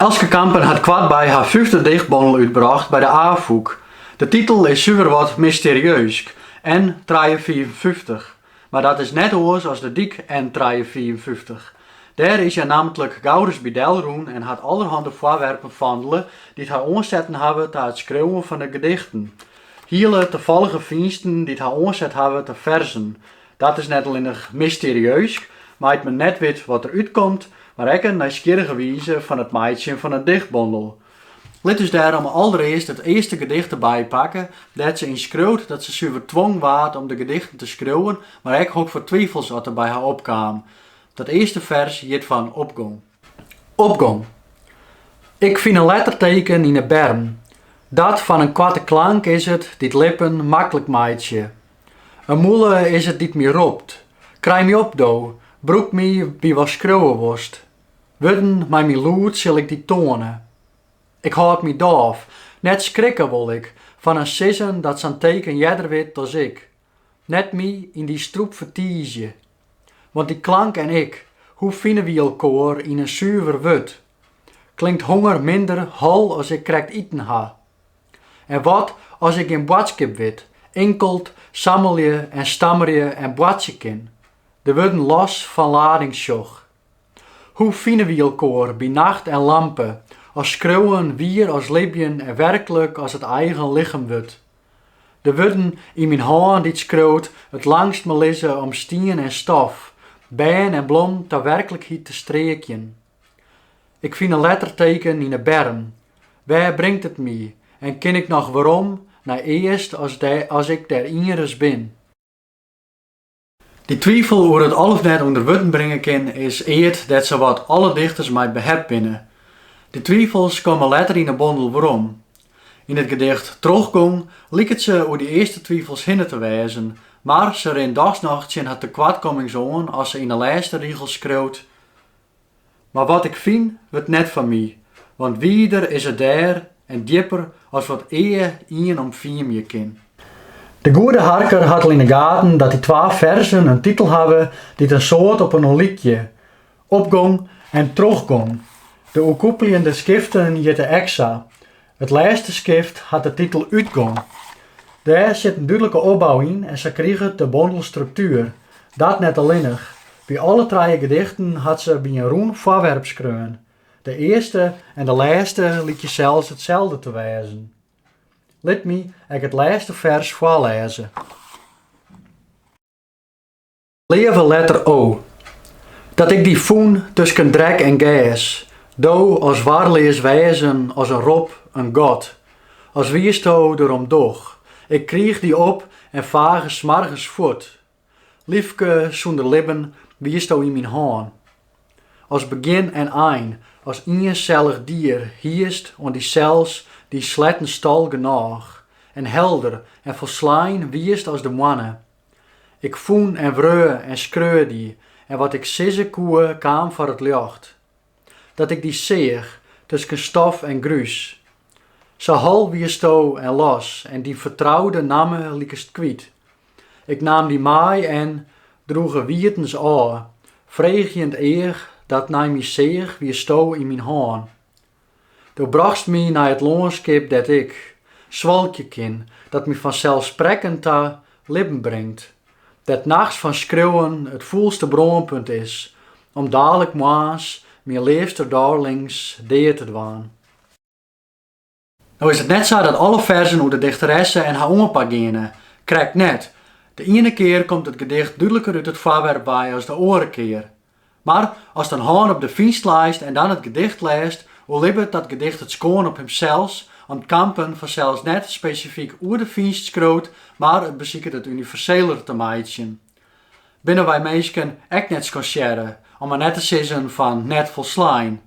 Elske Kampen hat koartby har fyfde dichtbondel útbrocht by de Afûk. De titel is suver wat mysterieusk, N. trije fiifenfyftich, mar dat is net oars as de dyk N. trije fiifenfyftich. Dêr is hja nammentlik gauris by delrûn en hat allerhande foarwerpen fandele dy't har oansetten hawwe ta it skriuwen fan de gedichten. Hiele tafallige fynsten dy't har oanset hawwe ta ferzen. Dat is net allinnich mysterieusk, mei't men net wit wat der útkomt, mar ek in nijsgjirrige wize fan it meitsjen fan in dichtbondel. Lit ús dêrom alderearst it earste gedicht der by pakke, dêr't se yn skriuwt dat se suver twongen waard om de gedichten te skriuwen, mar ek hokfoar twifels oft der by har opkamen. Dat earste fers hjit fan Opgong. Opgong. Ik fyn in letterteken yn 'e berm. Dat fan in koarte klank is it dy't lippen maklik meitsje. In mûle is it dy't my ropt, krij my op do, brûk my by watst skriuwe wolst. Wurden mei myn lûd sil ik dy toane. Ik hâld my dôf, net skrikke wol ik fan in sizzen dat sa'n teken earder wit as ik, net my yn dy strûp fertiizje. Want dy klank en ik, hoe fine wy elkoar yn in suver wurd? Klinkt honger minder hol as ik krekt iten ha? En wat as ik gjin boadskip wit, inkeld sammelje en stammerje en boartsje kin, de wurden los fan lading sjoch? Hoe fine wy elkoar by nacht en lampe, as skriuwen wier as libjen en werklik as it eigen lichem wurdt? De wurden yn myn hân dy't skriuwt it langstme lizze om stien en stof, bern en blom ta werklikheid te streakjen. Ik fyn in letterteken yn 'e berm. Wêr bringt it my en kin ik noch werom nei earst as ik dêr ienris bin? Dy twifel oer it al of net ûnder wurden bringe kinnen is eat dêr't sawat alle dichters mei behept binne. Dy twifels komme letter yn 'e bondel werom. Yn it gedicht 'Trochgong' liket se oer dy earste twifels hinne te wêzen, mar se rint dochs noch tsjin har tekoartkommings oan as se yn 'e lêste rigels skriuwt, Mar wat ik fyn, wurdt net fan my, want wider is it dêr en djipper as wat ea ien omfiemje kin. De goede harker hat al yn 'e gaten dat dy twa ferzen in titel hawwe dy't in soad op inoar lykje, opgong en trochgong. De oerkoepeljende skiften hjitte ek sa, It lêste skift hat de titel Utgong. Dêr sit in dúdlike opbou yn en sa kriget de bondel struktuer. Dat net allinnich. By alle trije gedichten hat se by in rûn foarwerp skreaun. De earste en de lêste lykje sels itselde te wêzen. Lit my ek it lêste fers foarlêze. Leave letter O. Dat ik dy fûn tusken drek en gers, do as warleas wêzen as in rop, in god, as wiesto der om doch, ik kriich dy op en fage smoargens fuort, Lyfke, sûnder libben wiesto yn myn hân. As begjin en ein, as iensellich dier hiest oan dysels dyn sletten stal genôch, en helder en folslein wiest as de moanne, Ik fûn en wreau en skreau dy en wat ik sizze koe kaam foar it ljocht. Dat ik dy seach, tusken stof en grús. Sa hol wiesto en los en dyn fertroude namme likest kwyt. Ik naam dy mei en, droege wietens ôf, freegjend each dat nei my seach wiesto yn myn hân, Do brochtst my nei it lânskip dêr't ik, swalkje kin, dat my fanselssprekkend ta libben bringt, dêr't nachts fan skriuwen it fûlste brânpunt is, om dalik moarns myn leafste darlings dea te dwaan. No is it net sa dat alle ferzen oer de dichteresse en har oanpak geane, krekt net. De iene kear komt it gedicht dúdliker út it foarwerp wei as de oare kear, Mar ast in hân op de fynst leist en dan it gedicht lêst, oerlibbet dat gedicht it skoan op himsels, om't Kampen fansels net spesifyk oer de fynst skriuwt, mar it besiket it universeler te meitsjen. Binne wy minsken ek net skansearre, om mar net te sizzen fan net folslein?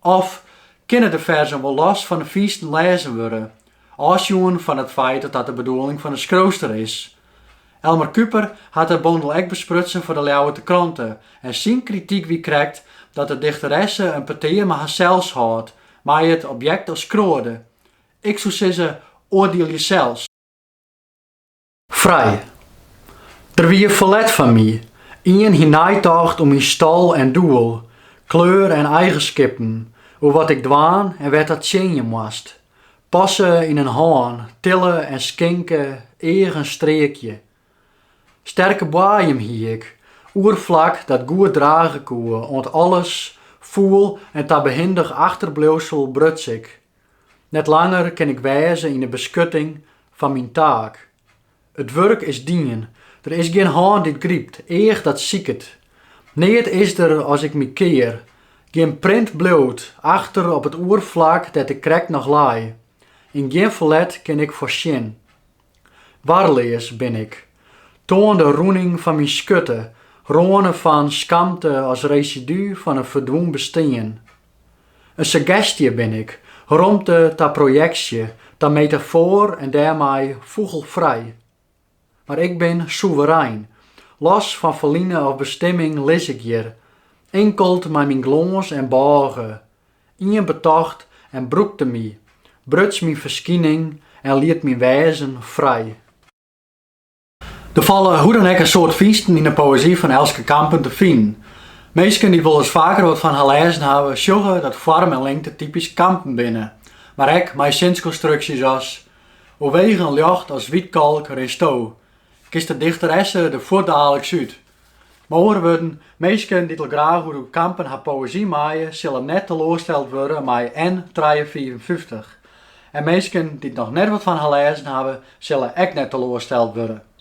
Of kinne de ferzen wol los fan de fynsten lêzen wurde, ôfsjoen fan it feit dat dat de bedoeling fan de skriuwster is? Elmar Kuiper hat de bondel ek besprutsen foar de Ljouwerter Krante en syn krityk wie krekt dat de dichteresse in petear mei harsels hâldt, mei it objekt as kroade. Ik soe sizze, oardielje sels. Frij. Der wie ferlet fan my. Ien hie neitocht oer myn stal en doel, kleur en eigenskippen, oer wat ik dwaan en wêr't dat tsjinje moast. Passe yn in hân, tille en skinke, eagen streakje. Sterke boaiem hie ik, oerflak dat goed drage koe oant alles, foel en ta behindich achterbliuwsel bruts ik. Net langer kin ik wêze yn 'e beskutting fan myn taak. It wurk is dien, der is gjin hân dy't grypt, each dat siket. Neat is der as ik my kear, gjin print bliuwt achter op it oerflak dêr't ik krekt noch lei, yn gjin ferlet kin ik foarsjen. Warleas bin ik, toan de rûning fan myn skurte, râne fan skamte as residu fan in ferdwûn bestean. In suggestje bin ik, romte ta projeksje, ta metafoar en dêrmei fûgelfrij. Mar ik bin soeverein, los fan ferline of bestimming lis ik hjir, inkeld mei myn glâns en bôge, Ien betocht en brûkte my, bruts myn ferskining en liet myn wêzen frij. Der falle hoe dan ek in soad fynsten yn de poëzy fan Elske Kampen te finen. Minsken dy't wolris faker wat fan har lêzen hawwe, sjogge dat foarm en lingte typysk Kampen binne, mar ek mei sinskonstruksjes as, Oer wegen ljocht as wytkalk rinsto, kinst de dichteresse der fuortdaliks út. Mei oare wurden, minsken dy't al graach oer de Kampen har poëzy meie, sille net teloarsteld wurde mei N trije fiifenfyftich. En minsken dy't noch net wat fan har lêzen hawwe, sille ek net teloarsteld wurde.